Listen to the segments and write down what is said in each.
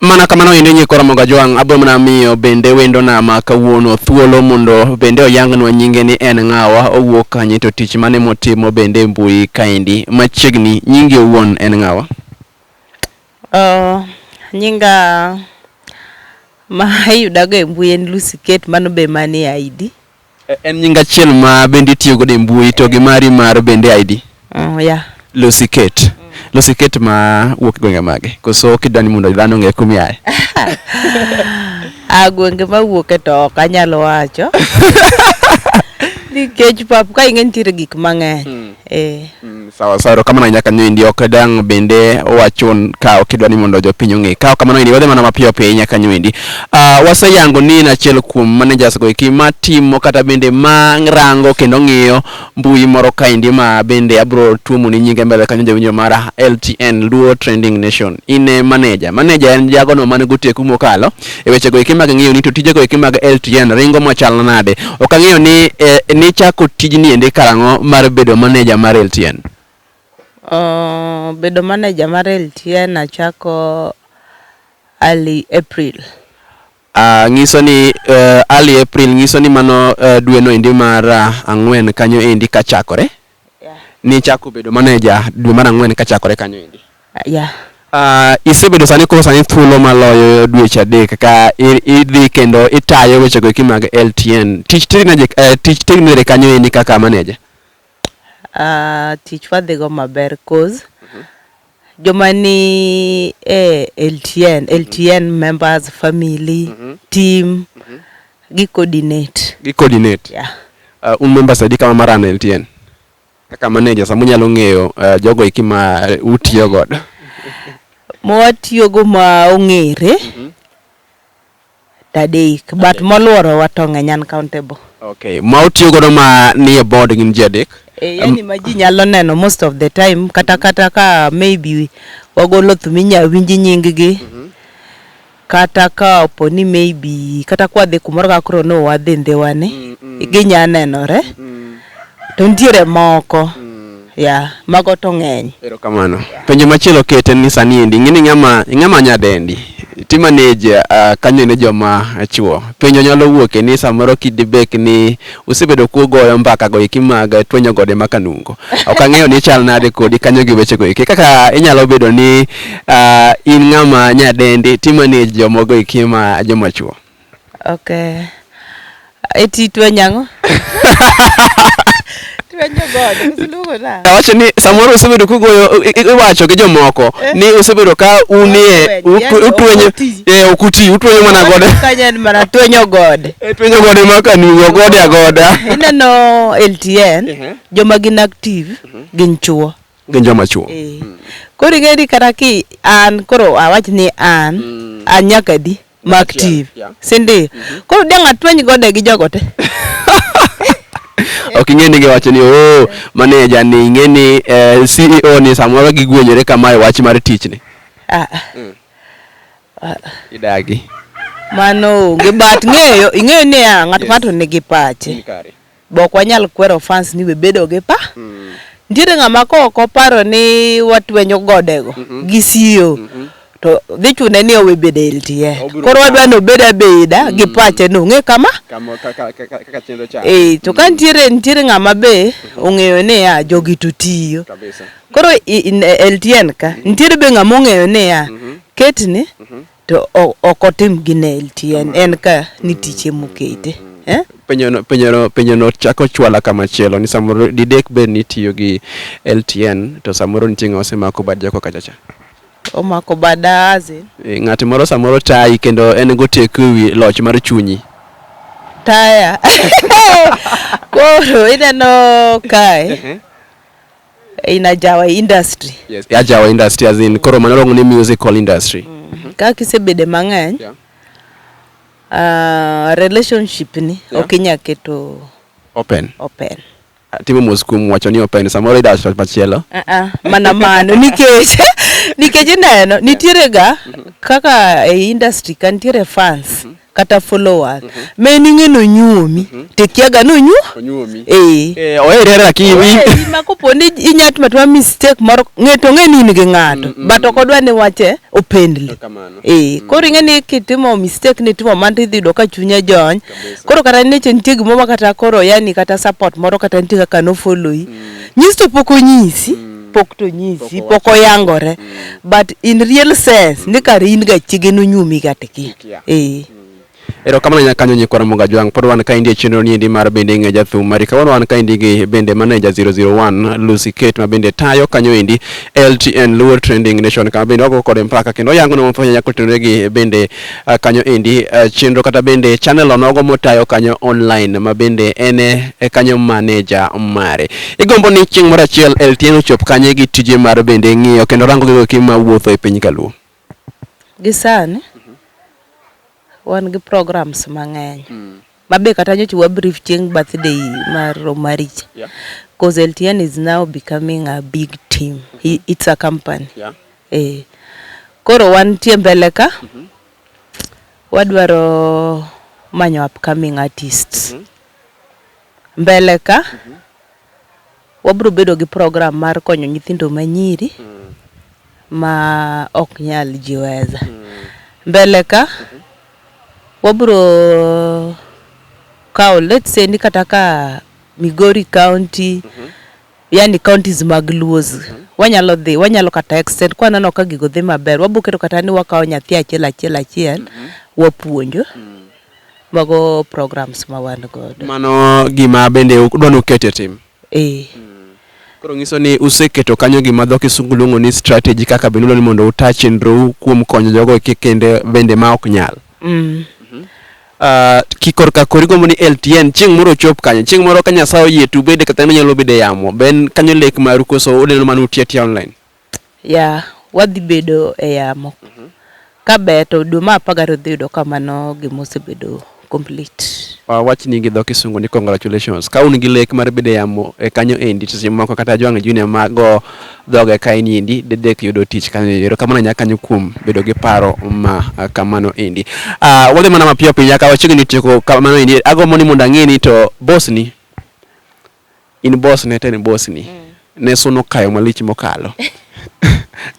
Mana kamano endo inye koro Ramogi Ajwang' abiro mana miyo bende wendo na ma kawuono thuolo mondo bende oyangnwa nyinge ni en ng'awa, owuok kanye to tich mane motimo bende e mbui kaendi. Machiegni nyingi owuon en ng'awa? Uh, nyinga ma iyudago e mbui en Lucy Kate, mano be manie ID. En nying achiel ma bende itiyo godo e mbui to gi mari mar bende ID. Oh, yeah. Lucy Kate. Lucy Kate ma wuok gwenge mage. Koso kidwani mondo dhano ong'e kumi aye. A gwenge ma wuoke to ok anyal wacho. Nikech pap ka ing'e nitiere gik mang'eny. Eh. Mm, sawa sawa erokamano ahinya kanyo indi ok dang' bende wachun ka ok idwa ni mondo jopiny ong'e kawo kamano indi wadhi mana mapiyo piyo ahinya kanyo indi uh, ah, waseyango ni en achiel kuom managers go eki matimo kata bende marango kendo ng'iyo mbui moro ka indi ma bende abro tuomo ni nyinge mbele kanyo jawinjo mara LTN Luo Trending Nation in e manager manager en jagono mane goteku mokalo e wechego eki mag ng'iyo ni to tijego eki mag LTN ringo machal nade. Ok ang'eyo ni eh, nichako tijni endi karang'o mar bedo maneja mar LTN. Uh, bedo maneja mar LTN achako early April. Uh, nyiso ni uh, early April nyiso ni mano uh, dweno endi mar uh, ang'wen kanyo endi kachakore. Yeah. Nichako bedo maneja dwe mar ang'wen kachakore kanyo endi. Uh, yeah. Uh, isebedo sani koro sani thuolo maloyo dweche adek ka idhi kendo itayo weche go mag LTN. Tich teri naje uh, eh, tich teri nere kanyo endi kaka maneja. Uh, ah, tich wadhigo maber cause mm -hmm. Joma ni e LTN, LTN members, family, mm -hmm. team, mm -hmm. gi coordinate. Gi coordinate. Yeah. Uh, un members adi kama marano LTN? Kaka manager sama unyalo ng'eyo uh, jogo iki ma uh, utiyo godo. Mwatiyogo ma ong'ere. Mm -hmm. Adek but moluorowa to ng'eny uncountable. Okay, ma utiyo godo ma nie board gin ji adek? Eh, yani ma ji nyalo neno most of the time kata kata ka maybe wagolo thum inya winj nying gi kata ka opo ni maybe kata kwadhi kumoro kaka koro no wadhi ndhiwani ginya nenore To nitiere moko. Mm. Yeah, mago to ng'eny. Erokamano. Penjo machielo kete ni sani endi ing'eni ng'ama ing'ama nyadendi ti manage uh, kanyo ne joma chuo penjo nyalo wuoke ni samoro kidibek ni usebedo kugoyo mbaka go iki mag twenyo gode ma kanungo ok ang'eyo ni chal nade kodi kanyo gi weche go iki kaka inyalo bedo ni uh, in ng'ama nyadendi ti manage jomogo iki ma joma chuo Okay. Eti twenyo ang'o? Twenyo gode, misiluongo nang'o? Awacho ni samoro usebedo kugoyo i- i- iwacho gi jomoko Eh. ni usebedo ka unie Utwenyo, yani utwenyo okuti. eh, okuti utwenyo mana gode Kanya en mana twenyo gode. Eh, twenyo gode ma kanugo gode agoda Ineno LTN, Ehe. joma gin active gin chuo. gin joma chuo Eh. Koro ing'e ni kata ki an koro awach ni an, an nyaka di. mag TV. Si ndi? Mhm. Koro dang' atweny gode gi jogo te. ok ing'e ni giwacho ni oh maneja ni ing'e ni eh, CEO ni samoro gigwenyore kama e wach mar tich ni. Ah. ah. Mm. ah. Idagi. Mano onge but ng'eyo ing'eyo ni ya ng'at ng'ato nigi pache. Be ok wanyal kwero fans ni we bedo gi pa. Nitiere ng'ama ka ok oparo ni watwenyo godego gi siyo to dhi chune ni owe bedo e LTN. Obiro Koro wadwa ni obed abeda gi pache ni ong'e kama. Kama kaka kaka kaka chenro cha. Eh, to ka nitiere nitiere ng'ama be ong'eyo ni ya jogi to tiyo. Kabisa. Koro i- in- e- LTN ka nitiere be ng'ama ong'eyo ni ya ketni to ok otim gi nail tien en ka ni tiche mokete eh? penyono penyono penyono chako chwala kama chielo ni samoro didek bed ni tiyo gi LTN to samoro nitie ng'ama osemako bad jako kacha cha omako bada aze e, ng'at moro samoro tayi kendo en goteku ewi loch mar chunyi taya koro ineno kae in ajawa industry yes ajawa industry as in koro mano long ni musical industry mm. ka kisebede mang'eny yeah. uh, relationship ni yeah. ok inya keto open open ah, timo mos kuom wacho ni open samoro idas machielo uh -uh, mana mano nikech nikech ineno nitiere ga mm-hmm. kaka e industry ka nitiere fans mm -hmm. kata followers mm -hmm. me ninge no nyuomi mm -hmm. tekiaga no nyu onyuomi eh eh ohere lakini ohere ma kopo ni inyat matwa mistake moro ngeto nge ni nige ngato mm -hmm. but okodwa ni wache opendli eh mm -hmm. koro inge ni kitimo mistake ni timo manti idhi do ka chunya jony koro kata ni chen tigi mama kata koro yani kata support moro kata nti kaka no follow yi mm -hmm. nyisto poko nyisi mm -hmm pok to nyisi pok oyangore mm. but in real sense ni kar in ga chige no nyumi ga tiki Atia. Ee. Erokamano nyakanyo Nyikwa Ramogi Ajwang'. Pod wan kaendi e chenro niendi mar bende ing'e jathum mari. Kawuono wan kaendi gi bende maneja 001 Lucy Kate ma bende tayo kanyo endi LTN Luo Trending Nation kama bende wago kode mpaka kendo oyango ni mafwenyo nyako tenore gi bende ah, kanyo endi ah, chenro kata bende channel onogo motayo kanyo online ma bende en e e kanyo maneja mare. Igombo ni chieng' moro achiel LTN ochop kanye gi tije mar bende ng'iyo kendo rango gigo eki ma wuotho e piny kaluo. Gi sani wan gi programs mang'eny mm. ma be kata nyocha wa brief chieng' birthday mar Omarich yeah. cause LTN is now becoming a big team mm -hmm. it's a company yeah. eh. koro wantie mbele ka mm -hmm. wadwaro manyo upcoming artists mm -hmm. mbele ka mm -hmm. Wabiro bedo gi program mar konyo nyithindo ma nyiri ma ok nyal jiweza. Mbele ka wabiro kawo let's say ni kata ka Migori County, yani counties mag Luos, wanyalo dhi, wanyalo kata extend kwa neno ka gigo dhi maber. Wabiro keto kata ni wakawo nyathi achiel achiel achiel wapuonjo. Mago programs ma wan godo. Mano gima bende udwa ni uket e tim? Ee. Koro nyiso ni useketo kanyo gima dho kisungu luongo ni strategy kaka bende udwa ni mondo uta chenrou kuom konyo jogo eki kende bende ma ok nyal. Mm. Ah, ki korka koro igombo ni LTN chieng' moro ochop kanyo. Chieng' moro ka Nyasaye oyie to ubede kata inyalo bede yamo. Be en kanyo lek maru koso uneno mana uti atia online? Yeah, wadhi bedo e yamo. Ka ber to dwe mar apar gariyo idhi yudo ka mano gima osebedo complete. Wawachni gi dho kisungu ni congratulations. Ka un gi lek mar bedo e yamo e kanyo endi to seche moko kata Ajwang' Junior ma go dhoge kaeni endi dedek yudo tich kanyo endi. Erokamano ahinya kanyo kuom bedo gi paro ma kamano endi. Ah, wadhi mana mapiyo piya ka wachiegni tieko kamano endi. Agombo ni mondo ang'e ni to boss ni. In boss ne to en boss ni. Ne suno kayo malich mokalo.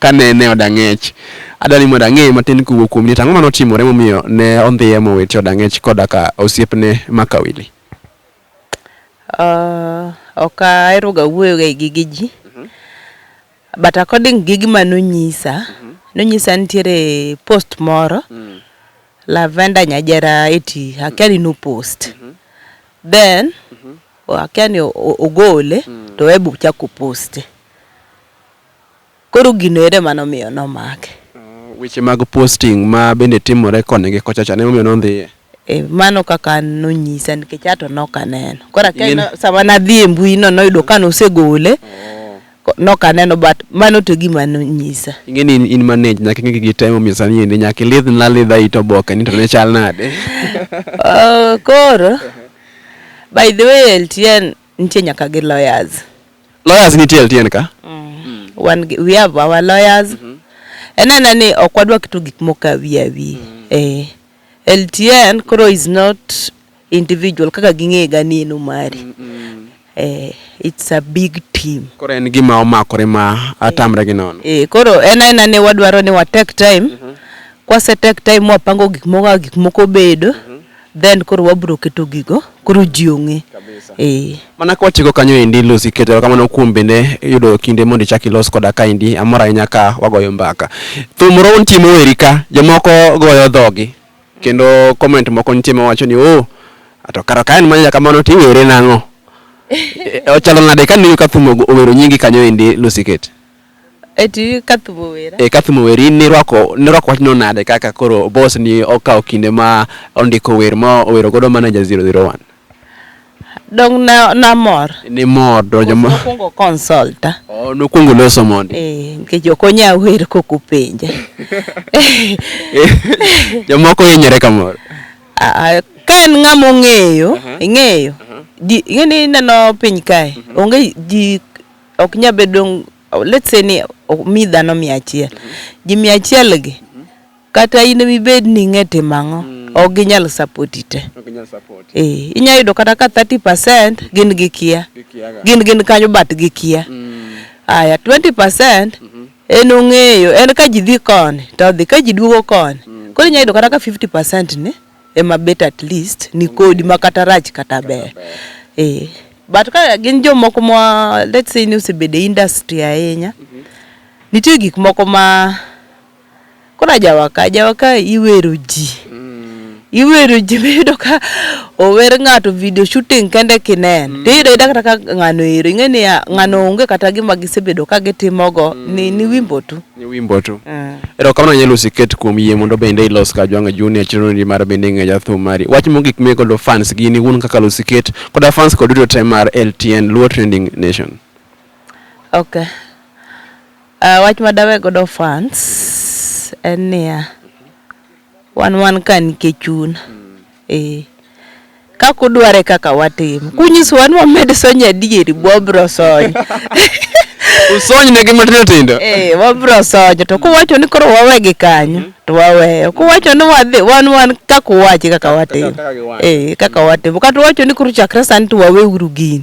Kanene oda ng'ech. Adwa ni mondo ang'eye matin kowuok kuom ni to ang'o mane otimore momiyo ne ondhiye mowiti oda ng'ech koda ka osiepne Maka Willy? Ok ahero ga wuoyo ga e gige ji. But according gi gima nonyisa, nonyisa nitiere post moro Lavender Nyajera eti akia ni no post. Then wakia ni o- o- ogole to Web ochako poste. Koro gino ere mane omiyo nomake. Weche mag posting ma bende timore koni gi kocha cha ne omiyo nondhiye. E, mano kaka an nonyisa nikech ato nok aneno. Koro akia In- ni sama nadhi e mbui no noyudo ka nosegole. Nok aneno but mano to e gima nonyisa. Ing'e ni in manage nyaka ing'e gigi te momiyo sani endi nyaka ilidh na lidha it oboke ni to ne chal nade. Oh, koro by the way LTN nitie nyaka gi lawyers. Lawyers nitie LTN ka? Mm. Wan gi- we have our lawyers. En ena ni ok wadwa keto gik moko awi awi. Eh. LTN koro is not individual kaka ging'e ga ni en omari mm -mm. Eh, it's a big team koro en gima omakore ma atamre gi nono eh, koro en aena ni wadwaro ni wa take time mm -hmm. kwase take time wapango gik moko kaka gik moko bedo mm -hmm then koro wabro keto gigo koro ji ong'e eh. mana ka watieko kanyo endi Lucy keto kamano kuom bende yudo kinde mondo ichak ilos koda ka endi amor ahinya ka wagoyo mbaka thum round timo weri ka jomoko goyo dhogi Kendo comment moko nitie ma wacho ni oh to kara ka en manya kamano to iwere nang'o? E, ochalo nade ka niyo Kathumo owero nyingi kanyo endi Lucy Kate? Eti Kathumo wera. E Kathumo weri nirwako nirwako wachno nade kaka koro boss ni okawo kinde ma ondiko wer ma owero godo manager 001? Dong na namor. Nimor to joma Nokwongo consulta. oh, nokwongo loso mondi. Eh, nikech ok onya wer kok openja. Jomoko hinyore kamoro. Ah, ah, Ka en ng'ama ong'eyo, ing'eyo. Ji- Ing'e ni ineno piny kae, onge ji ok nya bedo let's say ni o- mi dhano mia achiel. Ji mia achiel gi Kata in emibed ni ing'e timo ang'o, ok ginyal sapoti te. Ee, inya yudo kata ka 30% gin gikia. Gin gin kanyo but gikia. Aya, 20% en ong'eyo, en ka ji dhi koni to odhi, ka ji duogo koni. Koro inya yudo kata ka 50% ni ema bet at least ni kodi ma kata rach kata ber. Ee, but ka gin jomoko ma let's say ni osebedo e industry ahinya, nitie gik moko ma. Koro ajawaka, ajawaka iwero ji. Mm. Iwero ji miyudo ka ower ng'ato video shooting kende kinen. Mm. Tiyudo ayuda kata ka ng'ano ero. Ing'e ni ah, ng'ano mm. onge kata gima gisebedo ka gitimogo mm. ni, ni wimbo tu. Ni wimbo tu. Mm. Ero kamano nyalo siket kuom yie mondo bende ilos ka jwanga juni a chiro ni mar bende ng'e jathum mari. Wach mogik me kodo fans gini un kaka lo siket koda fans kod duto te mar LTN Luo Trending Nation. Okay. Uh, wach ma dawe godo fans en niya wan wan ka nikech chun eh kaka udware kaka watim kunyiso wan wamed sonyo adieri bwabro sony usony ne gi matindo tindo eh wabro sonyo to kuwacho ni koro wawe gi kanyo to waweyo kuwacho ni wadhi wan wan kaka uwachi kaka watim eh kaka watim kata uwacho ni koro chakre sani to wawe uru gini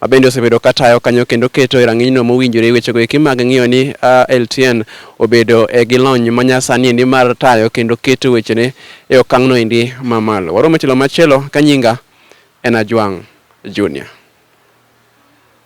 ma bende osebedo ka tayo kanyo kendo keto e rang'inyno mowinjore wechego eki mag ng'iyo ni LTN obedo e gi lony ma nyasani endi mar tayo kendo keto wechene e okang'no endi mamalo. Waromo e tielo machielo ka nyinga en Ajwang' Junior.